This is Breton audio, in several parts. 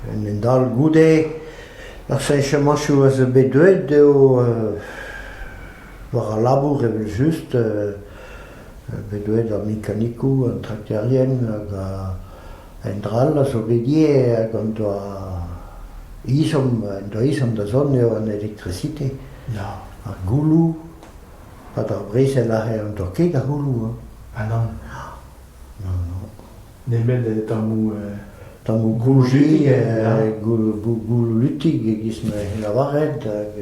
En un dal goude ar fiñvamañchoù a zo bet deuet eo war al labour evel-just bet deuet ar mekanikoù, an trakterien hag un dra all a zo bet ivez hag en doa ezhomm en doa ezhomm da zont eo an elektrisite, ar gouloù. ha d'ar brezel a rae an dorked a c'holoù hañ ha nann nann non nemet tammoù tammoù goujit gouloù lutig e-giz ma c'hell lavaret hag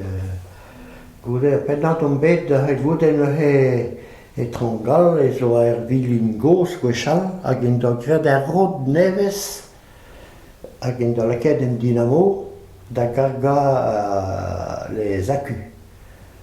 goude ar pennad omp bet da c'hel vout en ur etron gall ez oa ur vilin gozh gwechall hag en doa graet ur rod nevez hag en doa lakaet un dinamo da gargañ les acus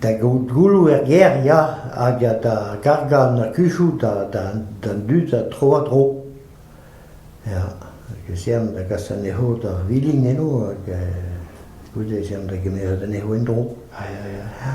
Da gaout gouloù er gêr ya hag da gargañ an akuzoù d'an dud tro-ha-tro. Ya hag ez ean da gas anezho d'ar vilin eno hag goude ez ean da gemeret anezho en-dro. Ya ya ya.